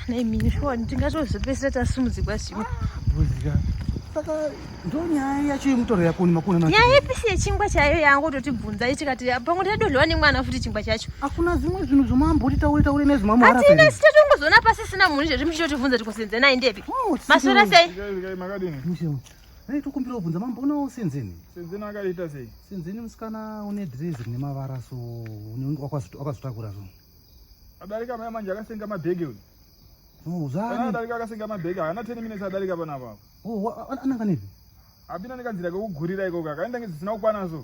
nemini shuwa tingatozopesera tasumudzikwa zvimwe saka ndonyaya yacho yemutoro yako nemakuna nyaya ipisi yechingwa chaiyo yangu totibvunza itikati pamwe tadodliwa nemwana futi chingwa chacho hakuna zvimwe zvinhu zvomamboti taure taure nezvimamhatina sita tongozoona pasisina munhu izvezvi muchitotibvunza tikosenza naye ndepi oh, masora sei Dai tokumbira kubvunza mambonawo Senzeni. Senzeni akaita sei? Senzeni musikana une dress rine mavara so unenge wakazotakura so. Adarika maya manje akasenga mabhegi uyu. Oh, zvani. Adarika akasenga mabhegi haana 10 minutes adarika pana apapo. Oh, ananga nepi? Apinda nekanzira kekugurira ikoko akaenda ngezvisina kukwana so.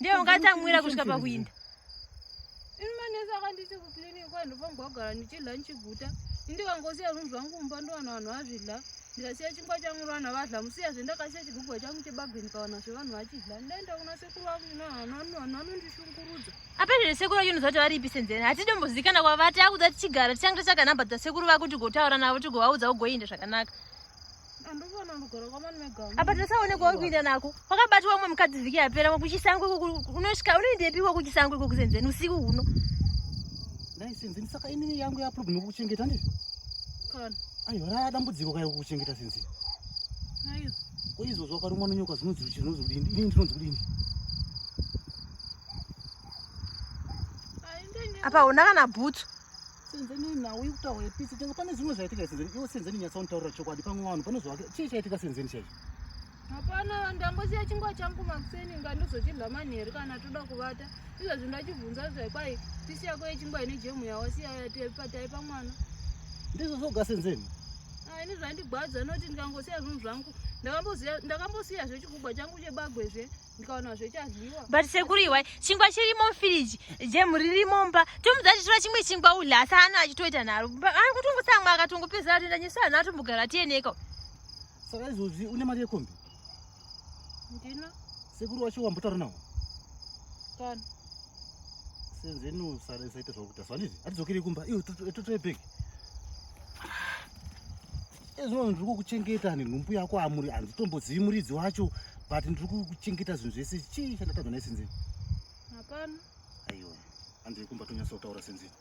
ndiye ungatsamwira kusvika pakuinda ini manesi akandisi kuclinic kwandofamba kugara ndichidla ndichiguta indikangosiya zvinhu zvangu mumba ndovana vanhu vazvidla ndikasiya chingwa changu rovana vadla musiya zve ndakasiya chigugwa changu chebageni pavanhu zve vanhu vachidla ndaenda kuna sekuru vangu vanhu vanondishungurudza apa zvine sekuru vacho unoziva kuti varipi senzeni hatidombozikana kwavati akuda tichigara tichange tichakanamba dzasekuru vakuti gotaura navo tigovaudza ugoinda zvakanaka apa tasaonekwa wekuinda nako wakabatwa wamwe mukadzi vhiki yapera kuchisangwe unosvika unoindepihwa kuchisangwe kokusenzeni usiku huno ndaisenzeni saka inini yangu yaproblem kukuchengeta ndii aiwa raya dambudziko kayo kukuchengeta senzeni koizvozvo wakarumwa nonyoka zvinonzi kuti zvinonzi kudini inini ndinonzi kudini apa hauna kana bhutsu Senzeni nhau ikutaura ipisi tenga pane zvimwe zvaitika senzeni iwe senzeni nyatsa unitaurira chokwadi pamwe vanhu pane zvavake chii chaitika senzeni chaicho hapana ndambosiya chingwa changu makuseni inga ndozochidla manheru kana toda kuvata izvezvi ndachibvunza zvekwai pisi yako yechingwa ine jemu yawasiya yataipatai pamwana ndizvo zvoga senzeni ah, ini zvandigwadza noti ndikangosiya zvinhu zvangu ndakambosiya zvechikugwa changu chebagwe zve ndikaona zvechadyiwa but sekuru iwai chingwa chirimo mufiriji jemu ririmo mba tomudza achitora chimwe chingwa udle asi ano achitoita naro ari kutongotsamwa akatongopedzera atoenda nyeso anhu atombogara tieneka saka izvozvi une mari yekombi ndina sekuru wacho wambotaura nawo kana senzeni usaita zvakuita so handizi atidzokere kumba iwe totore bhegi ezvino ndiri kukuchengeta nenhumbu yako amuri handitombozivi muridzi wacho but ndiri kukuchengeta zvinhu zvese chii chandatadza naye senzeni hapana aiwa hanzi yekumba tonyasa kutaura senzeni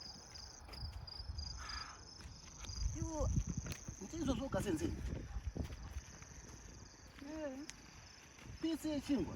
iwo ndiizvozvoga senzeni pisi yechingwa